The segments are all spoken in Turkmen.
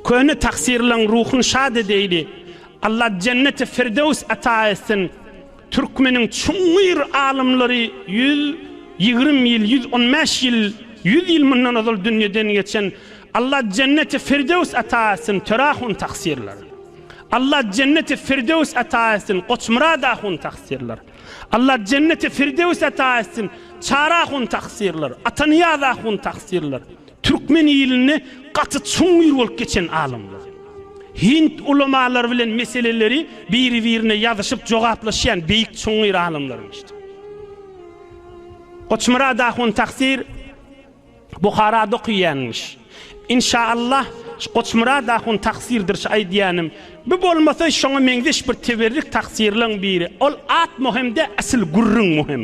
Köne taksirlaň ruhun şad edeýli Alla jenneti firdews ata etsin Türkmeniň çuňňur alymlary ýüz ýigrim ýyl ýüz on bäş ýyl ýüz ýyl mundan ozal dünýeden geçen Alla jenneti firdews ata etsin Töre ahun taksirler Alla jenneti firdews ata etsin Goçmyrat ahun taksirler Alla jenneti firdews ata etsin Çary ahun taksirler Atanyýaz ahun taksirler. Türkmen ilinde gaty çuňňur bolup geçen alymlar. Hind ulamalary bilen meseleleri biri birine ýazyşyp jogaplaşýan beýik çuňňur alymlarymyşdy. Goçmyrat ahun taksyr Buharada okyýanmyş. Inşa Allah şu Goçmyrat ahun taksyrdyr şu aýdýanym. Bu bolmasa şoňa meňzeş bir teberrik taksyrlaň biri. Ol at muhim dä asyl gürrüň muhim.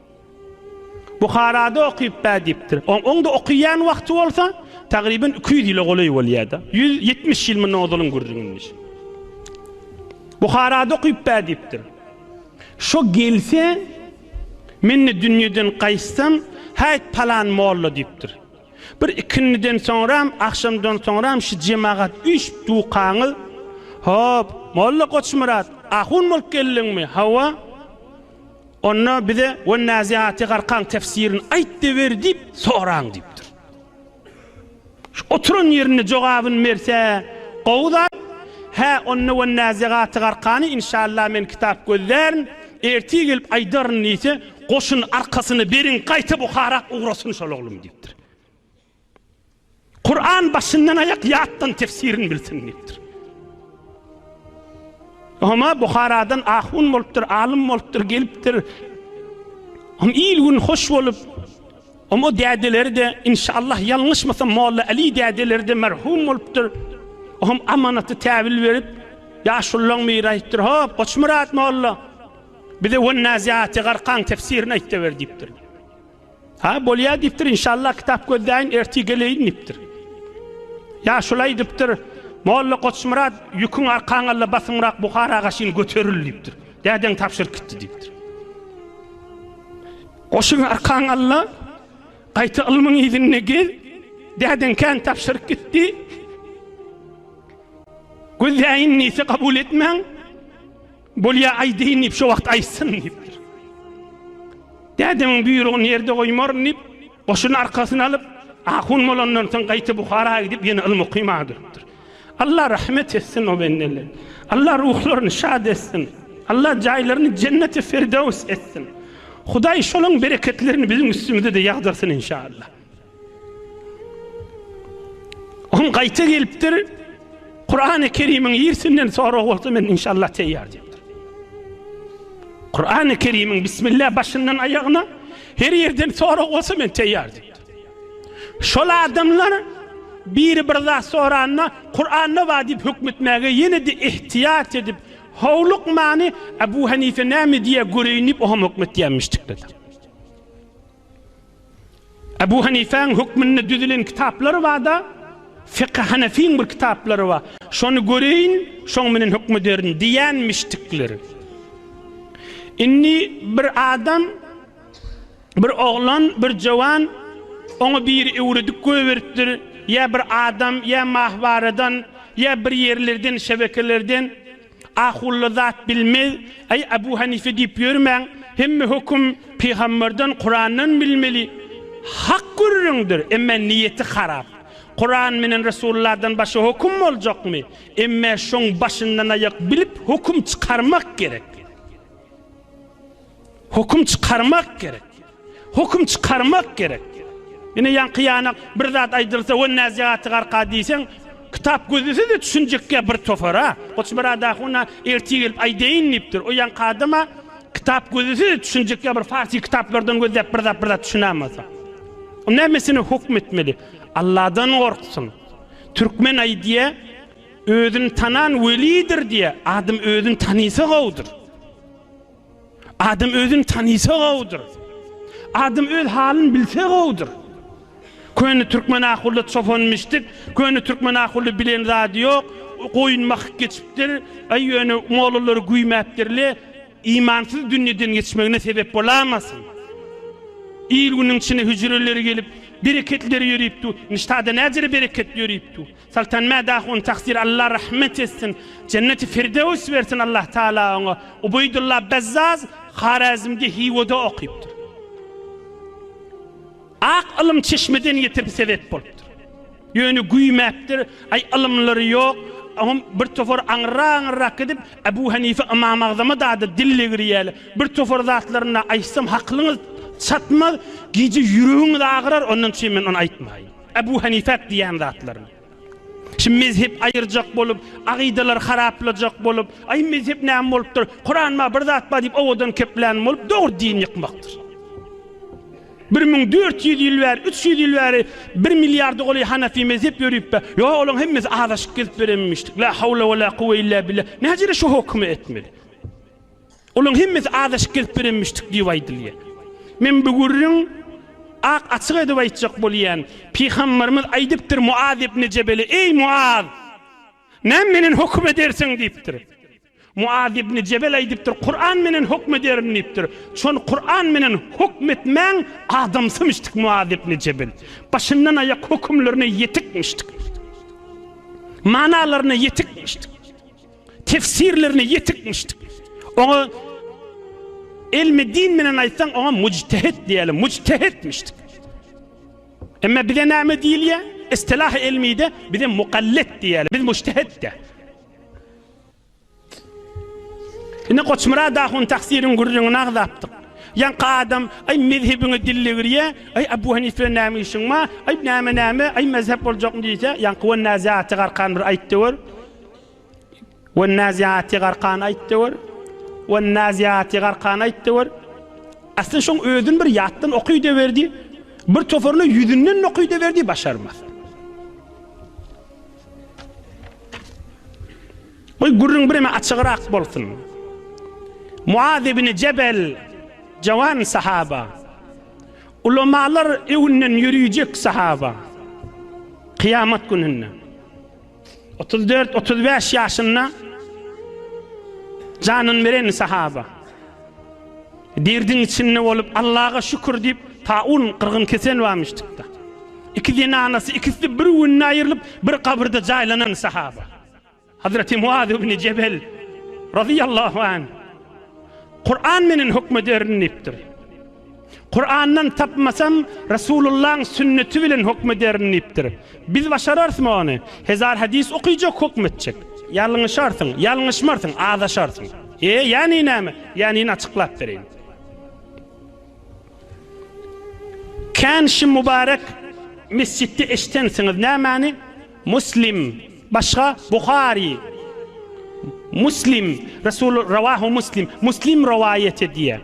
Buharada okyp bä diýipdir. Oň oňda okyýan wagty bolsa, tagryban iki ýüz ýyla golaý bolýar-da. Ýüz ýetmiş ýyl mundan ozalyň gürrüňini. Buharada okyp bä diýipdir. Şo gelse, men-de dünýeden gaýtsam, häýt palan molla diýipdir. Bir ikindiden soňram, agşamdan soňram şu jemagat üýşüp dukaňyz, Hop, molla Goçmyrat, ahun bolup geldiňmi? Hawa. Onda bize Wen-Naziaty Garkan tefsirini aýtdyberi diýip soraň diýipdir. Şu oturan ýerinde jogabyny berse gowy zat. Hä, onda Wen-Naziaty Garkany inşallah men kitap gözlärin, ertir gelip aýdaryn diýse, goşun arkasyna beriň, gaýta Buhara ugrasyn şol oglum diýipdir. Kuran başyndan aýak ýatdan tefsirini bilsin diýipdir. Homa Buharadan ahun bolupdyr, alym bolupdyr, gelipdir. Hom il gün hoş bolup, hom o dädeleri de inşallah ýalňyşmasam Molla Ali dädeleri de merhum bolupdyr. Hom amanaty täbil berip, ýaşullaň biri aýtdyr, "Hop, Goçmyrat molla, bize Wan-Naziaty garkaň tefsirini aýt-da ber" diýipdir. Ha, bolýar diýipdir, inşallah kitap gözläýin, ertir geleýin diýipdir. Ýa şuly aýdypdyr, Molla Goçmyrat, ýüküň arkaňalla basymrak Buharaga şin göteril diýipdir. Dädeň tabşyryk gitdi diýipdir. Goşuň arkaňalla, gaýta ylmyň yzynda gez, dädeň kän tabşyryk gitdi. Gözläýin diýse kabul etmäň. Bolýa aýdaýyn diýip, şo wagt aýtsyn diýipdir. Dädemiň buýrugyny ýerde goýmaryn diýip, goşuny arkasyna alyp, ahun bolandan soň gaýta Buhara gidip, ýene ylmy okymag durupdyr. Alla rahmet etsin o bendele. Alla ruhlaryny şad etsin. Alla jaýlaryny jenneti firdöws etsin. Hudaý şolaň bereketlerini biziň üstümize-de ýagdyrsyn inşallah. Oň gaýta gelipdir. Kurany Kerimiň ýersinden sorag bolsa men inşallah teýýar diýipdir. Kurany Kerimiň bismillah başyndan aýagyna her ýerden sorag bolsa men teýýar diýipdir. Şol adamlar biri bir zat soranda Kuranda bar diýip hökm etmäge ýene-de ihtiýat edip howlukmany Abu Hanife näme diýýär göreýin diýip o hem hökm etýärmiş tikde. Ebu Hanifäň hökmünde düzülen kitaplary bar-da, Fekhi Hanefiň bir kitaplary bar, şony göreýin, şoň bilen höküm ederin diýenmişdikler. Indi bir adam, bir oglan, bir jowan, oňa biri öwredip goýberipdir, ýa bir adam, ýa mahbaradan, ýa bir ýerlerden, şebekelerden, Ahulla zat bilmez, Aý Abu Hanife diýip ýörmäň, hemme höküm Pygamberden, Kurandan bilmeli. Hak gürrüňdir, emma niýeti harap. Kuran menen Resullardan başga höküm boljakmy? Emma şoň başyndan aýak bilip höküm çykarmak gerek. Höküm çykarmak gerek. Höküm çykarmak gerek. Ine ýaňky ýanak bir zat aýdylsa we näsihaty garka diýseň, kitap gözlese-de düşünjekkä bir tofara. Goç Byrada huna ertir gelip aýdaýyn diýipdir. O ýaňky adama kitap gözlese-de düşünjekkä bir farsy kitaplardan gözläp bir zat bir zat düşünämasa. O nämesine höküm etmeli? Alladan gorksun. Türkmen aýdýa, özüni tanan welidir diýä. Adam özüni tanysa gowudyr. Adam özüni tanysa gowudyr. Adam öz halyny bilse gowudyr. Köne türkmen ahulda çopan mişdik, köne türkmen ahulda bilen zady ýok, goýun mahyk geçipdir, aý ýöne mollalar güýmäpdirle, imansyz dünýeden geçmegine sebep bolamasyn. Il-günüň içine hüjreleri gelip, bereketleri ýörüp dur. Niştada näjere bereketli ýörüp dur. Soltan Mädah on taksir Allah rahmet etsin Jenneti Firdewis bersin Allah Taala oňa Ubeýdullah Bezzaz Harazmde Hiwada okypdyr. Ak ylym çeşmeden getirip sebep bolupdyr. Ýöne güýmäpdir, aý ylymlary ýok, oňam bir topar aňyrrak-aňyrrak gidip Ebu Hanife Ymam Agzama dady dil degirýäle. Bir topar zatlaryna aýtsam haklyňyz çatmaz, gije ýüregiňiz agyrar ondan çyn men ony aýtmaýyn. Abu Hanifat diýen zatlaryny. Şimdi mezhep ayıracak bolup, agideler haraplajak bolup, ay mezhep näme bolupdyr? Kur'an ma bir zat bar diýip owadan keplän bolup, dogry din ýykmakdyr. 1400 ýyl bäri, 300 ýyl bäri 1 milliarda goly Hanafi mezhep ýörüp be. Yo, olaň hemmesi azaşyk gezip berenmişdik. La hawla we la kuwwe illa billah. Näjere şu hukmy etmeli? Olaryň hemmesi azaşyk gelip berenmişdik diýip aýdylýar. Men bu gürrüň ak açyk edip aýtjak bolýan, Pygamberimiz aýdypdyr Muaz ibni Jebele, Eý Muaz! Näme menen höküm edersiň? diýipdir. Muaz ibni Jebel aýdypdyr, Kuran menen höküm ederin diýipdir. Çon Kuran menen höküm etmäň adamsymişdik Muaz ibni Jebel. Başyndan aýak hökümlerine ýetikmişdik. Manalaryna ýetikmişdik. Tefsirlerine ýetik müşdik. Oňa ilmi din bilen aýtsaň, oňa mujtehit diýýärler, mujtehit müşdik. Emma bize näme diýilýär? Istilah ilmide bize mukallit diýýärler, biz mujtehit de. Ine Goçmyrat ahun taksirin gürrüňini agzapdyk. Ýaňky adam, aý mezhebiňe dille girýä, aý Abu Hanife näme işiň bar, aý näme näme, aý mezhep boljakmy diýse, ýaňky we näzäti garkan bir aýtdy gör. Wan-naziaty garkan aýtdy gör. Wan-naziaty garkan aýtdy gör. Asly şoň özün bir ýatdan okyda berdi. Bir toparyny ýüzünden okyda berdi başarmaz. Goý gürrüň bireme açygrak bolsun. Muaz ibn Jebel jawan sahaba. Ulamalar öwünden ýörüjek sahaba. Kyýamat gününde. Otuz dört, otuz bäş ýaşynda janyny beren sahaba. Derdiň içinde bolup Allaha şükür diýip taun gyrgyn kesel barmyşdykda. İki zenanasy ikisi bir günde aýrylyp bir kabirde jaýlanan sahaba. Hazreti Muaz ibn Cebel radıyallahu anh Kur'an menen hükmederin diýipdir. Kurandan tapmasam, Resulullahyň sünneti bilen hukm ederin diýipdir. Biz başararysmy ony? Hezar hadys okyjak hukm etjek. Ýalňyşarsyň, ýalňyşmarsyň, azaşarsyň. E, ýany näme? Ýanyny açyklap bereýin. Kän şim mübarek mesjitde eşidensiňiz nämäni? Muslim, başga Buhari. Muslim, Resul rawahu Muslim, Muslim rowaýat edýär.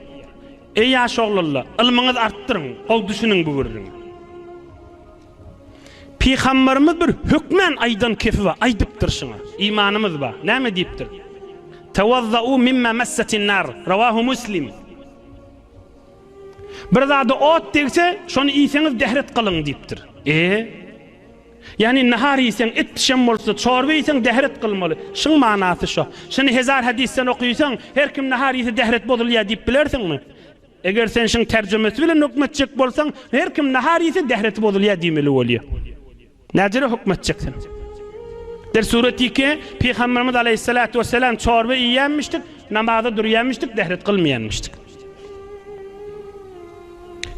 Eý ýaş oglalla, ylmyňyz artdyryň, gowy düşüniň bu gürrüň. Pygambarymyz bir hökmän aýdan kepi bar, aýdypdyr şyňa. Imanymyz bar. Näme diýipdir? Tawazzauu mimma massatin nar, rawahu Muslim. Bir zada ot degse, şony iýseňiz dehret gylyň diýipdir. Eee? Ýagny nahar iýseň, et bişen bolsa, çorba iýseň, dähret kylmaly. Şyň manasy şo. Şuny hezar hadysdan okysaň, her kim nahar iýse dähret bozulýar diýip bilersiňmi? Eger sen şyň terjemesi bilen höküm etjek bolsaň, her kim nahar iýse dähreti bozulýar diýmeli bolýar. Näcere höküm etjek sen? Bir suratiki, Pygamberimiz aleýhissalatu wesselam çorba iýýänmişdik, namaza durýanmişdik, dähret kylmaýanmişdik.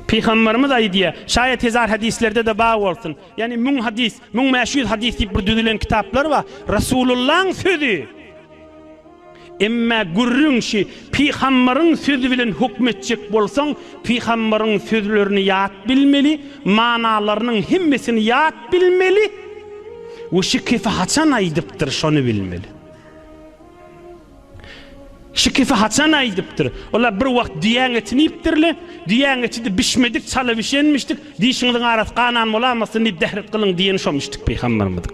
Pygamberimiz aýdýar, şaýat hezar hadislerde-de bar bolsun, ýagny müň hadys, müň bäş ýüz hadys diýip bir düzülen kitaplar bar, Rasulullaň sözi, emma gürrüň şi, pygamberiň sözi bilen höküm etjek bolsaň, pygamberiň sözlerini ýat bilmeli, manalarynyň hemmesini ýat bilmeli we şi kefi haçan aýdypdyr, şony bilmeli. Şikesi haçan aýdypdyr? Olar bir wagt düýäň etini iýipdirle. Düýäň etidi bişmedik, çala bişenmişdik. Dişiňiziň arasy ganan bolamasyn diýip zähret gylyň diýeni şomişdik pygamberimiziň.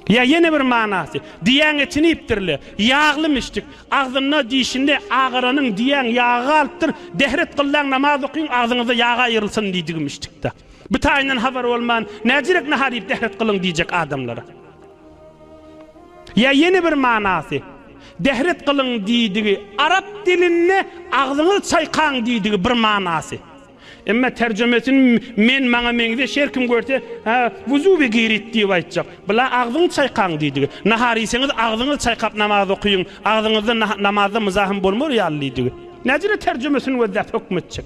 Ýa ýene bir manasy, düýäň etini iýipdirle. Ýaglymişdik. Agzynda, dişinde agaranyň düýäň ýagy galypdyr. Zähret gyllaň namaz okyň, agzyňyzda ýag aýrylsyn diýdigimişdik-de. Bu taýyndan habar bolman, näzirek nahar iýip zähret gylyň diýjek adamlara. Ýa ýene bir manasy, Dehret gylyň diýdigi, arap dilinde agzyňyzy çaýkaň diýdigi bir manasy. Emma terjemesin men maňa meňzeş her kim görse, hä, bu zuby girit diýip aýtjak. Bula agzyňy çaýkaň diýdigi. Nahar iýseňiz agzyňyzy çaýkap namaz okyň, agzyňyzda namazda muzahym bolmar ýaly diýdigi. Näcirä terjemesin we zat höküm etjek.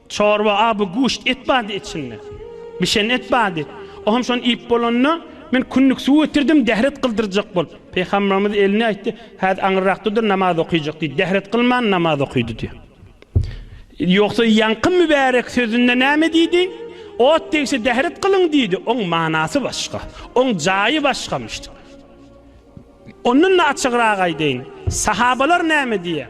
Çorba aby guşt et bady içinde. Bişen et bady. O hem şony iýip bolanda, men kündük suw getirdim, dähret gyldyrjak bolup. Pygamberimiz elini aýtdy, Häzir aňyrrakda dur, namaz okyjak diýdi. Dähret gylman namaz okydy diýýär. Ýogsa ýaňky mübärek sözünde näme diýdi? Ot degse dähret gylyň diýdi. Oň manasy başga. Oň jaýy başgamyş. Ondan-da açygrak aýdaýyn. Sahabalar näme diýýär?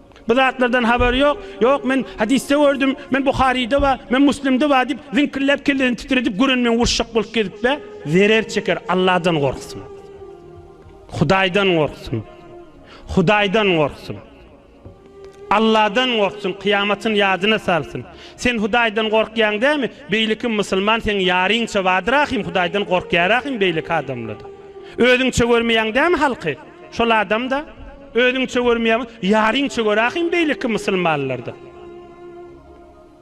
Bu zatlardan habary ýok, ýok men hadysda gördüm, men Buharyda bar, men Muslimde bar diýip ziňkilläp kellesini titredip görenmen uruşjak bolup gezip be, zerer çeker Allahdan gorksun. Hudaýdan gorksun. Hudaýdan gorksun. Allahdan gorksun kyýamatyn ýadyna salsyn. Sen Hudaýdan gorkýaň dämi? Beýlekim musulman seň ýaryňça badyrakym Hudaýdan gorkýarakym beýleki adamlada. Özüňçe görmeýäň dämi halky? Şol adamda özüňçe görmeýäňmi? Ýaryňça gör ahym beýleki musulmanlarda.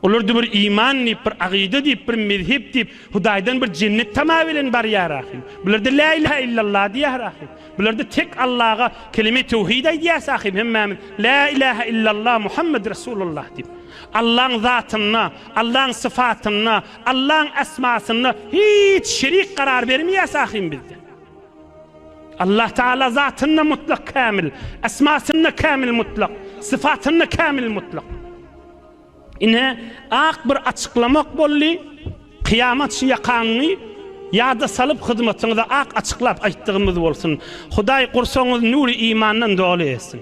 Olarda bir iman diýip, bir agyda diýip, bir mezhep diýip, Hudaýdan bir jennet tama bilen barýar ahym. Bularda Lä ilahe illallah diýýär ahym. Bularda tek Allaga kelime-i töwhid aýdýas ahym hemmämiz, Lä ilahe illallah Muhammed Resulullah diýip. Allaň zatynda, Allaň syfatynda, Allaň esmasynda hiç şerik garar bermeýäs ahym bizde. Allah Taala zatynda mutlak kämil, esmasynda kämil mutlak, syfatynda kämil mutlak. Ine, ak bir açyklamak boldy. Kyýamat şu ýakaňyňy ýada salyp hyzmatyňyzy ak açyklap aýtdygymyz bolsun. Hudaý gursagyňyzy nury imandan doly etsin.